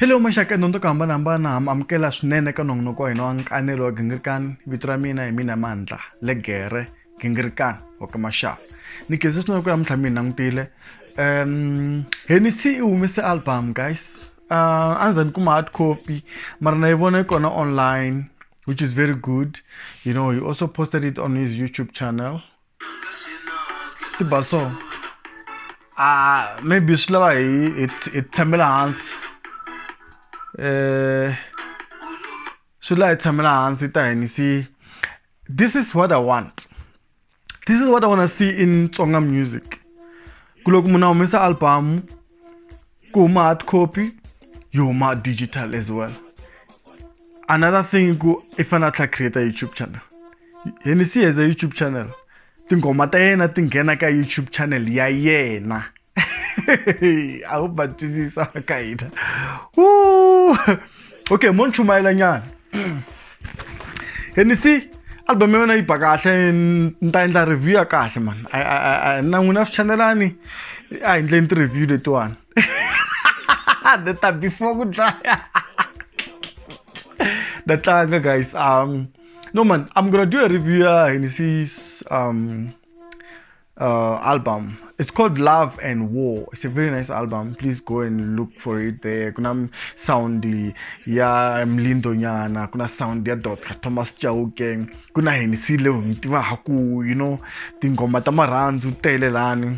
hello maxaka nonto ku hambanahambana ha mi amukela swinene ka nongonoko wa hina wa nkanelo wa gingirikani vito ra mina hi mina mandla legere gingirikani wa ka maxava ni khensi swinene ku namuntlha mi hi langutile um henisi i humese album guys uh, a ndzeni kuma hard copy mara na yi vona yi kona online which is very good you know he also posted it on his youtube channel tibaso uh, maybe swi lava hi hi tshamela hansi um swi lava hi tshamela hansi ta henisi this is what i want this is what i wanna see in tsonga music ku loko munhu a humesa albamu ku huma hard copy yi huma digital as well another thing ku i fanele a tlha create youtube channel heni si heza youtube channel tinghoma ta yena ti nghena ka youtube channel ya yena a wu ba twisisa ka hina okay mo ni chumayela nyana and see album ya wena yi ba kahle ni ta endla review ya kahle mani na n'wina swi chanelani a hi ndleni ti-review letiwani the ta before ku dlaya na tlanga guys um No man, I'm gonna do a review of Hennessey's um uh album. It's called Love and War. It's a very nice album. Please go and look for it there. Kuna soundi ya Mlindo Nyana, kuna sound ya Dot Thomas Chauke, kuna Hennessy Levitiwa Haku, you know, tingoma ta marhandzu telelani.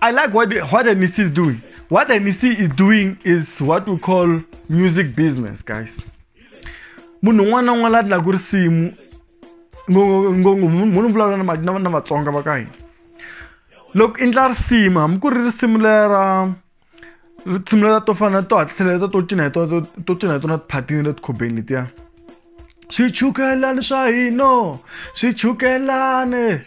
I like what what MEC is doing. What MEC is doing is what we call music business, guys. munhu un'wana na un'wana la tlaka risimu ngopfu munhu vulavula na vatsonga va ka hina loko i ndla risimu hambi ku ri risimu lera risimu lera to fana to hatliseleta to cina hi tona to cina hi tona tiphatini le tikhobeni letiya swichukelani swa hino swichukelani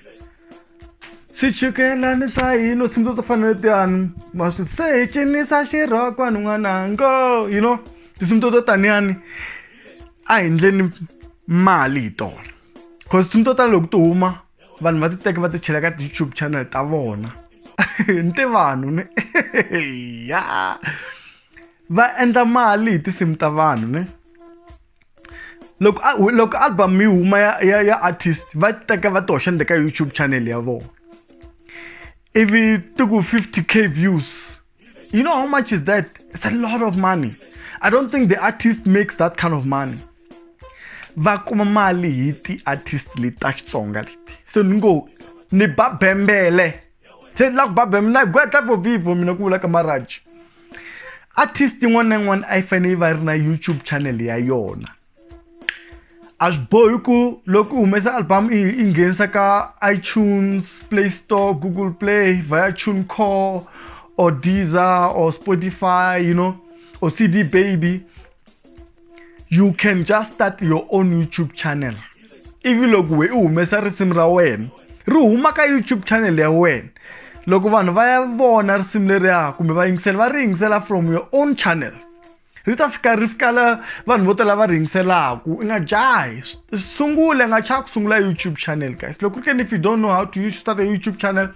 swi chukela ni swa yino sindzo to fana letiyani ma swi se hi cinisa xirhoko ni n'wana ngo you know tisindzo to taniyani a hi ndleni mali hi tona cause tisindzo to tani loko ti huma vanhu va ti teka va ti chela ka ti-youtube channel ta vona nti vanhu ne ya va endla mali hi tinsimu ta vanhu ne loko a loko album yi huma ya ya, ya artist va teka va ti hoxa ndzeka youtube channel ya vona ivi ti ku 50k views you know how much is that it's a lot of money i don't think the artist makes that kind of money va kuma mali hi ti-artist leti ta xitsonga leti so ni ngo ni ba bembele se ni lava ku ba bem na go tla for vivo mina ku vula ka maraji artist yin'wana na yin'wana a yi fanele yi va ri na youtube channel ya yona a swi bohi ku loko u humesa album i i nghenisa ka itunes play store google play via tune core or deezer or spotify you know or cd baby you can just start your own youtube channel ivi loko we i humesa risimu ra wena ri huma ka youtube channel ya wena loko vanhu va ya vona risimu leriya kumbe va yingisela va ri yingisela from your own channel ri ta fika ri fikala vanhu vo tala va ri yingiselaku i nga jahi sungula i nga chava ku sungula youtube channel guys loko ri ke if you don't know how to use start a youtube channel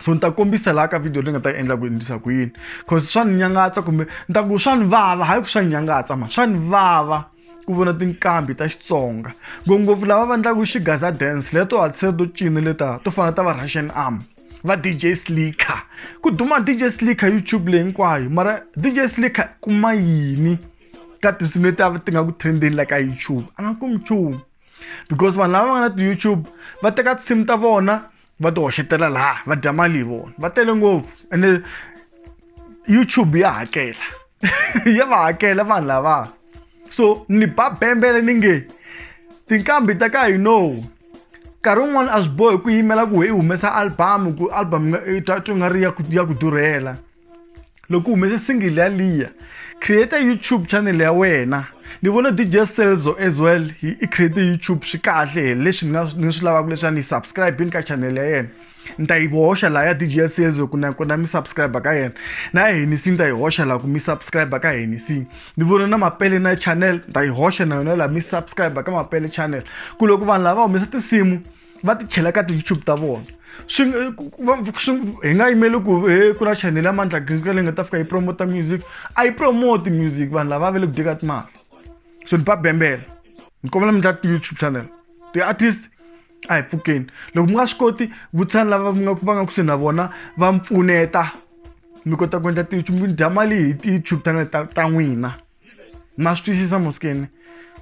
so ni ta kombisa laha ka video leyi nga ta yi endla ku endlisa ku yini cause swa ni nyangatsa kumbe ni ta ku swa ni vava hayi ku swa ni nyangatsa ma swa ni vava ku vona tinqambi ta xitsonga ngopfungopfu lava va endlaka xigaza dance leto hatlisela to cina leta to fana ta va russian arm va dj slicker ku duma dj slicker youtube leyi hinkwayo mara dj slicker kuma yini ka tinsimu leti a ti nga ku trendeni la ka youtube a nga kumi nchumu because vanhu lava va nga na ti-youtube va teka tinsimu ta vona va ti hoxetela laha va dya mali hi vona va tele ngopfu ene youtube ya hakela ya va hakela vanhu lava so ni ba bembele ni nge tinkambi ta ka hino nkarhi wun'wana a swi bohi ku yimela ku hi humesa album ku album i twa twi nga ri ya ku ya ku durhela loko ku humese single yaliya create youtube channel ya wena ni vona dj selzo as well i create youtube swi kahle hi leswi ni nga ni swi lavaka leswi a ni subscribe ni ka channel ya yena ni ta yi hoxa laha ya dj selzo ku na kona mi subscribe ka yena na ya henisi ni ta yi hoxa laha ku mi subscribe ka henisi ni vona na mapele na channel ni ta yi hoxa na yona laha mi subscribe ka mapele channel ku loko vanhu lava humesa tinsimu va ti chela ka ti-youtube ta vona swi hi nga yimeli ku he ku na chanel ya mandla gingika leyi nga ta fika yi promota music a yi promote music vanhu lava va le ku dyeka timali so ni va bembela ni kombela mi ndla ti-youtube channel ti-artist a hi pfukeni loko mi nga swi koti vutshani lava mi nga va nga kusuhi na vona va mi pfuneta mi kota ku endla ti-youtube mi dya mali hi ti-youtube channel ta ta n'wina ma swi twisisa moskeni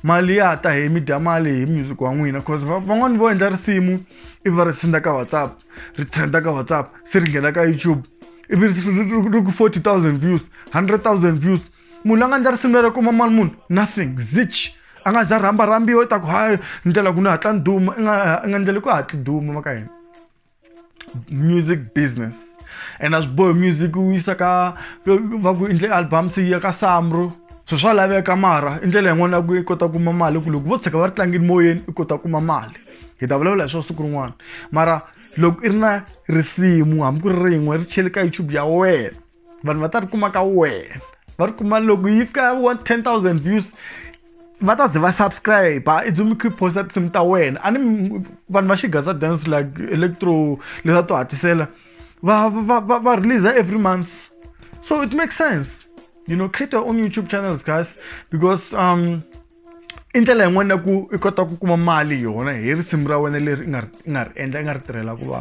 mali ya ta hi mi dya mali hi music wa n'wina cause van'wani vo endla risimu ivi va ri senda ka whatsapp ri trenda ka whatsapp se ri nghena ka youtube ivi ri ku forty thousand views hundred thousand views munhu la nga ndla risimu leri kuma mali munhu nothing zich a nga za rhamba rhambiwa i ta ku hayi ndlela ku ni hatla ni duma i nga i nga ndlela ku hatli duma maka yena music business and a swi bohi music u yisa ka va ku endle album se ya ka samro so swa laveka mara i ndlela yin'wana ya ku i kota kuma mali ku loko vo tshika va ri tlangini moyeni i kota kuma mali hi ta vulavula hi swa siku rin'wana mara loko i ri na risimu hambi ku ri rin'we ri chele ka youtube ya wena vanhu va ta ri kuma ka wena va ri kuma loko yi fika one ten thousand views va ta ze va subscribe i byi mi posta tinsimu ta wena a ni vanhu va xigaza dance like electro leta to hatlisela va va va va release every month so it makes sense you know create your own youtube channels guys because um i ndlela yin'wana ya ku i kota ku kuma mali hi yona hi risimu ra wena leri i nga i nga ri endla i nga ri tirhela ku va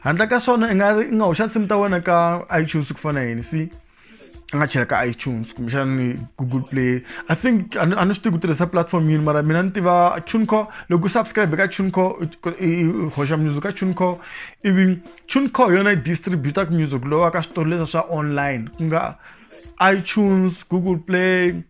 handle ka swona i nga ri i nga hoxa nsimu ta wena ka itunes ku fana yini si a nga chela ka itunes kumbexani google play i think a ni swi tivi ku tirhisa platform yini mara mina ni tiva tuneco loko u subscribe ka tuneco i hoxa music ka tuneco ivi tuneco hi yona yi distributaka music lowa ka switolo leswa swa online ku nga iTunes, Google Play,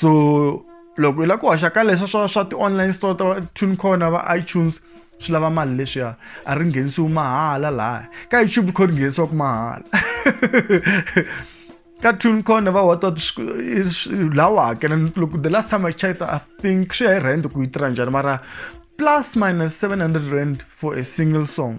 so loko i lava ku hoxa ka leswa swa swa ti-online store ta tune corner va itunes swi lava mali leswiya a ri nghenisiwi mahala lahaya ka youtube kho ri nghenisiwaku mahala ka tune corner va whatsapp laha wa hakela loko the last time i checked i think swi ya hi rand ku yi tirha njhani mara plus minus 700 rand for a single song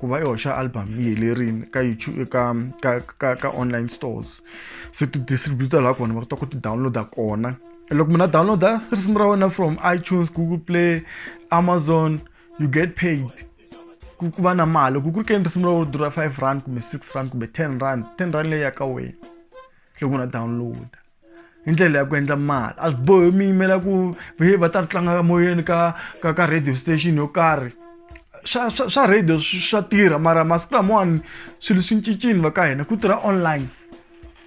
ku va yi hoxa album yi helerile ka youtube ka ka ka ka online stores se ti distributor laha kona va kota ku ti downloada kona loko munhu a downloada risimu ra wena from itunes google play amazon you get paid ku ku va na mali loko ku ri keni risimu ra wena durha five rand kumbe six rand kumbe ten rand ten rand leyi ya ka wena loko munhu a downloada hi ndlela ya ku endla mali a swi bohi mi yimela ku he va ta ri tlanga moyeni ka ka ka radio station yo karhi swa swa swa radio swa tirha mara masiku lamawani swilo swi cincile va ka hina ku tirha online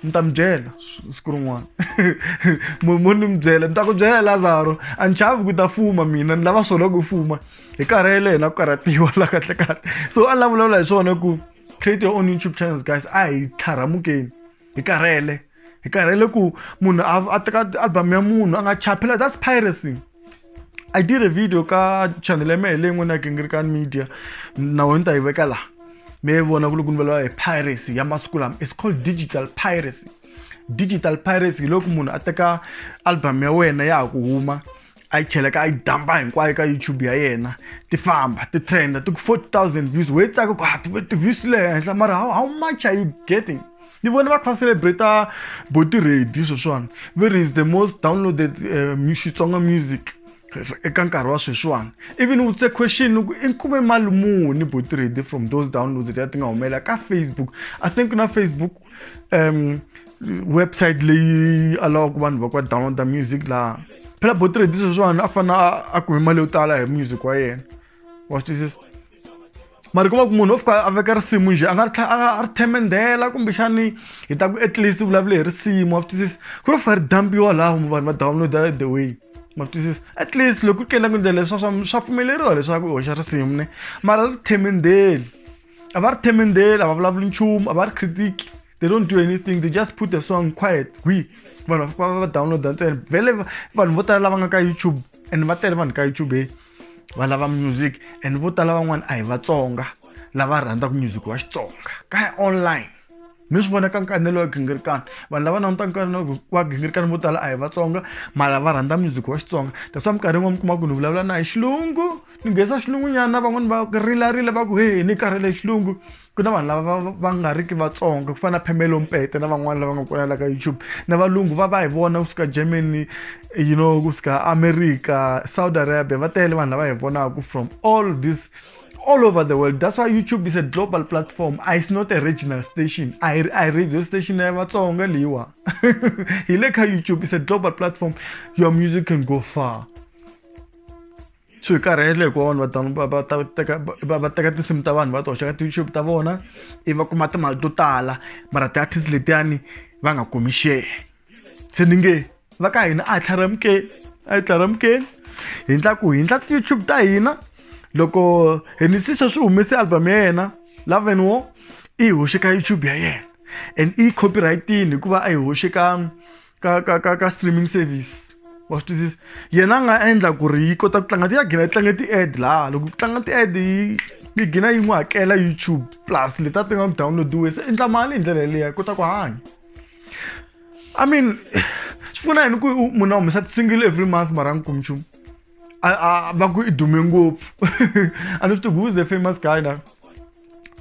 ni ta mi byela siku rin'wana mo ni mi byela ni ta ku byela lazaro a ni chavi ku ta fuma mina ni lava swona ku fuma hi karhele hina ku karhatiwa la kahle kahle so a ni lavulavula hi swona ku create your own youtube channels guys a hi tlharhamukeni hi karhele hi karhele ku munhu a teka album ya munhu a nga chapela that's piracy i did a video ka channel ya mehe leyi n'wina gingirikani media na wena ni ta yi veka laha mi vona ku loko ni vulavula hi piracy ya masiku lama it's called digital piracy digital piracy hi loko munhu a teka album ya wena ya ha ku huma a yi cheleka a yi damba hinkwayo ka youtube ya yena ti famba ti trenda ti ku 40000 views we tsaka ku hati ah, ti-views le henhla mara how, how much are you getting ni vona va kha celebrate boti redi sweswiwani very is the most downloaded uh, eh, xitsonga music eka nkarhi wa sweswiwani even u vutise question loko i kume mali muni botiredi from those downloads leti ti nga humelela ka facebook i think na facebook um website leyi alawaka vanhu va ku va downloada music laha phela botiredi sweswiwani a fanele a kume mali yo tala hi music wa yena wa swi twisisa mara kuma ku munhu o fika a veka risimu njhe a nga ri a ri themendela kumbexani hi ta ku at least vulavule hi risimu wa swi twisisa ku ri fika ri dambiwa laha mu vanhu va downloada the way ma twisisa at least loko ku kenda ku ndlela leswa swa swa pfumeleriwa leswaku u hoxa risimu ne mara ri themendeli a va ri themendeli a va vulavuli nchumu a va ri critic they don't do anything they just put the song quiet hwi vanhu va va downloada ntsena vhele vanhu vo tala lava nga ka youtube and va tele vanhu ka youtube hey va lava music and vo tala van'wana a hi vatsonga lava rhandzaka music wa xitsonga ka online mi swi vona ka nkanelo wa gingirikani vanhu lava languta nkanelo wa gingirikani vo tala a hi vatsonga mara va rhandza music wa xitsonga that's why minkarhi yin'wana mi kuma ku ni vulavula na hi xilungu ni nghenisa xilungunyana van'wani va rilarila va ku he ni karhele hi xilungu ku na vanhu lava va nga ri ki vatsonga ku fana na phemelo mpete na van'wani lava nga kona la ka youtube na valungu va va hi vona kusuka germany you know kusuka america saudi arabia va tele vanhu lava hi vonaku from all this all over the world that's why youtube is a global platform ah, it's not a regional station a hi a hi radio station ya vatsonga leyiwa hi le ka youtube is a global platform your music can go far so hi karhele hikuva vanhu va teka tinsimu ta vanhu va ti hoxa ka ti-youtube ta vona ivi va kuma timali to tala mara ti-artist letiyani va nga kumi share tshininge va ka hina a hi tlharamukeni a hi tlharamukeni hi ndla ku hi ndla ti-youtube ta hina loko henisisha swi humese album ya yena laven wo i yi hoxe ka youtube ya yena and i yi copyrightini hikuva a yi hoxe ka ka ka ka ka streaming service wa swi twisisa yena a nga endla ku ri yi kota ku tlanga ti ya gina yi tlanga ti-ad laha loko ku tlanga ti-ad yi yi gina yi n'wi hakela youtube plus leti a ti nga download-iwe se endla mali hi ndlela yeleyo yi kota ku hanya i mean swi pfuna yini ku munhu a humesa single every month mara ni kumi nchumu va ku i dume ngopfu a ni swi tivi who's the famous guy na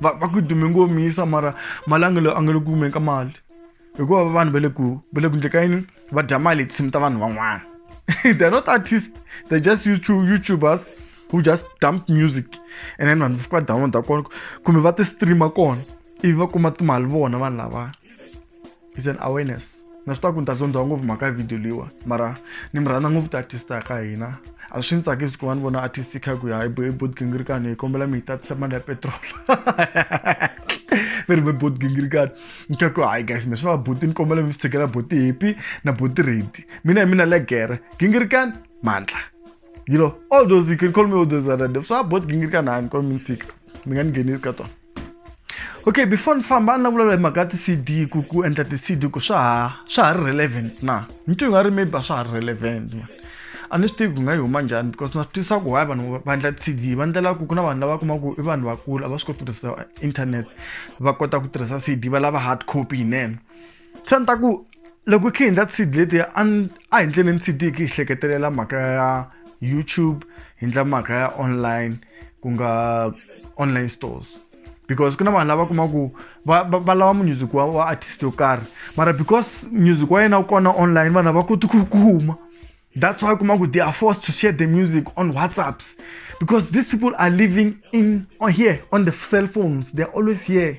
va ku i dume ngopfu mi yisa mara mali a nge a nge le ku kumeni ka mali hikuva vanhu va le ku va le ku ndleka yini va dya mali hi tinsimu ta vanhu van'wana they're not artists they're just youtube youtubers who just dump music and then vanhu va fika va downloada kona kumbe va ti streama kona ivi va kuma timali vona vanhu lava is an awareness na swi ta ku ni ta dyondza ngopfu mhaka ya video leyiwa mara ni mi rhandza ngopfu ti-artist ya ka hina a swi ni tsakisi ku va ni vona artist yi kha ku ya hi bohe bot gingirikani hi kombela mi hi tatisa mali ya petrol mi ri me bot gingirikani ni kha ku hayi guys mi swi va boti ni kombela mi swi tshikela boti hipi na boti redi mina hi mina legere gingirikani mandla you know all those you can call me all those other swa bot gingirikani hayi ni kombela mi ni tshika mi nga ni nghenisi ka tona okay before ni famba a ni vulavula hi mhaka ti-cd ku ku endla ti-cd ku swa ha swa ha ri relevant na ni twi nga ri maybe a swa ha ri relevant man a ni swi tivi ku nga yi huma njhani because na swi twisisa ku why vanhu va endla ti-cd va ndlela ku ku na vanhu lava kumaku i vanhu vakulu a va swi koti ku tirhisa internet va kota ku tirhisa cd va lava hard copy yinene se ni ta ku loko khe hi endla tshidi letiya a a hi ndleleni tshidi hi hleketelela mhaka ya youtube hi ndla mhaka ya online ku nga online stores because ku na vanhu lava kumaku va va lava music wa wa artist yo karhi mara because music wa yena wu kona online vanhu a va koti ku kuma that's why kuma ku they are forced to share the music on whatsapps because these people are living in on here on the cell phones they're always here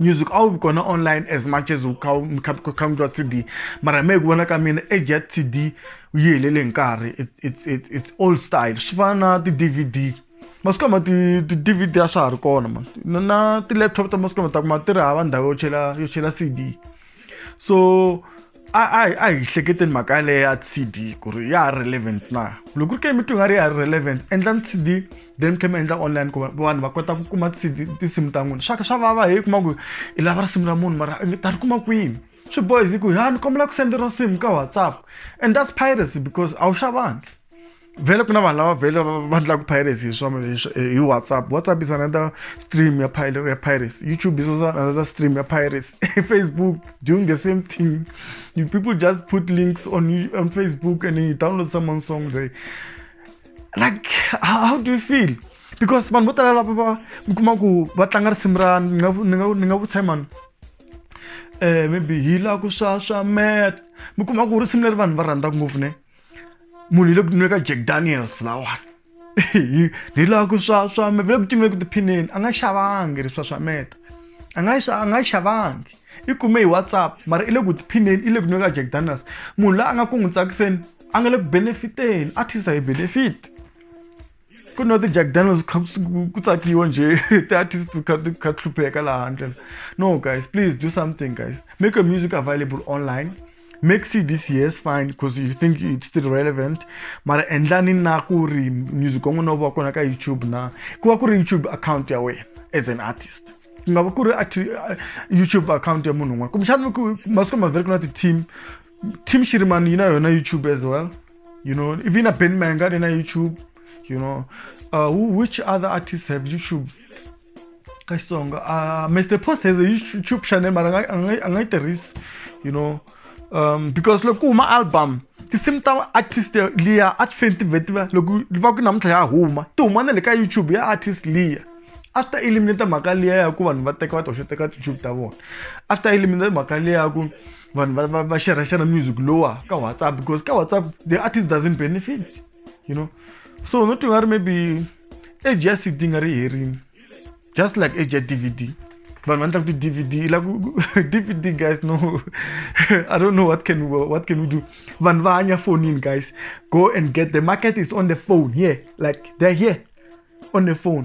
music a wu vi kona online as much as wu khamitwa c d mara hi me hi ku vona ka mina ajet c d yi helele hi nkarhi it's old style swi fana na ti-d v d masiku lama ti-d v d a swa ha ri kona ma na ti-laptop ta masiku lama ta kuma ti ri hava ndhawu yo chela yo chela c d so a a a hi hleketeni mhaka yaleyo ya cd ku ri ya ha relevant na loko ku ri ke mi twinga ri ya ha relevant endlani cd then mi tlhela mi endla online ku vanhu va kota ku kuma cd tinsimu ta n'wina xaka swa vava hi kuma ku i lava risimu ra munhu mara ta ri kuma kwini swi boys hi ku ha ni kombela ku senderiwa nsimu ka whatsapp and that's piracy because a wu xavanga vhele ku na vanhu lava vhele va endlaka piracy hi swa hi whatsapp whatsapp is another stream ya ya piracy youtube is also another stream ya piracy facebook doing the same thing you people just put links on on facebook and then you download someone's song there like how, how do you feel because vanhu vo tala lava va mi kuma ku va tlanga risimu ra ni nga ni nga ni nga vutisa hi mani um maybe hi la ku swa swa met mi kuma ku risimu leri vanhu va rhandzaka ngopfu ne munhu hi le ku nweka jack daniels lawani ni lava ku swa swa mi vule ku timile ku tiphineni a nga xavangi ri swaswameta a nga a nga xavangi i kume hi whatsapp mara i le ku tiphineni i le ku nweka jack daniels munhu la a nga ku n'wi tsakiseni a nga le ku benefiteni a thisa hi benefit ku nwa ti-jack daniels ku tsakiwa njhe ti-artist kha hlupheka laha handle no guys please do something guys make your music available online make cds yes fine because you think it's still relevant mara endlani na ku ri music wa n'wina wu va kona ka youtube na ku va ku ri youtube account ya wena as an artist ku nga va ku ri uh, youtube account ya munhu un'wana kumbexana masiku mavhele ku na ti-team team xirimani yi na yona youtube as well You know, even a Ben Manga in YouTube, you know. Uh, who, which other artists have YouTube? Kaisonga. Uh, Mr. Post has a YouTube channel, but I'm it is, you know. Um, because look, my album, the same time artist Leah, at 20 vetiva, look, Livaku Namta ya huma, to one like YouTube, ya artist Leah. after eliminate mhaka liya ya ku vanhu va teka va toxoteka ti-tube ta vona after eliminate mhaka liya ya ku vanhu va- va- va sherashana music lower ka whatsapp because ka whatsapp the artist doesn't benefit you know so no ti nga ri maybe age ya cd nga ri herini just like age ya dvd vanhu va endlaku ti-dvd la ku dvd guys no i don't know what can we, what can we do vanhu va hanya fonini guys go and get the market is on the phone here like they're here on the phone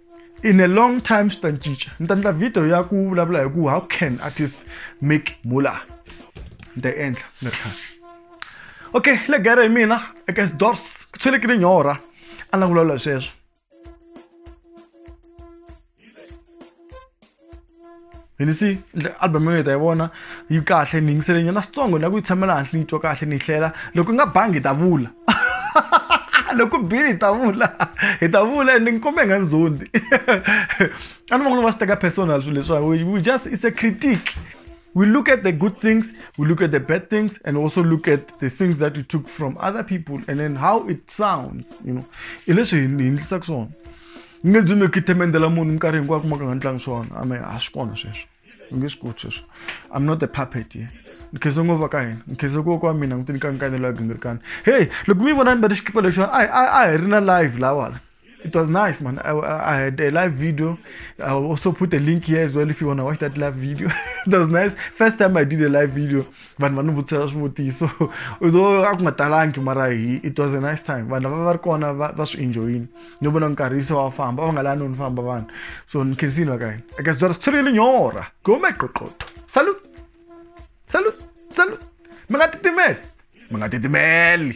in a long time swi ta cinca ni ta endla video ya ku vulavula hi ku how can artist make mula ni ta yi endla ni ri khale okay le gere hi mina eka sdors ku tshwelekile nyora a ni la ku vulavula hi sweswo hi ni si album yo ta yi vona yi kahle ni yingisele nyana switsongo la ku yi tshamela hansi ni yi twa kahle ni yi hlela loko yi nga bangi hi ta vula loko bile hi ta vula hi ta vula ende ni kombe hi nga ni zondi a ni van'wana va swi teka personal swilo leswiwa we just it's a critique we look at the good things, we look at the bad things, and also look at the things that we took from other people and then how it sounds, you know. Ileswi hi hindlisa ku swona. ni nge byi mi khitemendela munhu minkarhi hinkwayo kuma ka nga ni tlangi swona ame a swi kona sweswo u nge swi koti sweswo i'm not a puppet ye ni khense ngo va ka hina ni khense ku ka mina n'wi ti ni kankanelo ya gingirikani hey loko mi vona ni va xikipa lexiwani a a hi ri na live lawala it was nice man I, I had a live video i also put a link here as well if you want to watch that live video it was nice first time i did a live video vanhu va ni vutisa swivutiso though a ku nga talangi mara hi it was a nice time vanhu lava va ri kona va va swi enjoyini ni vona nkarhi se wa famba va nga laha noni famba vanhu so ni khensini vakayi i guess dora sithuri linyora gome qoqoto salut salut salut mi nga titimeli mi nga titimeli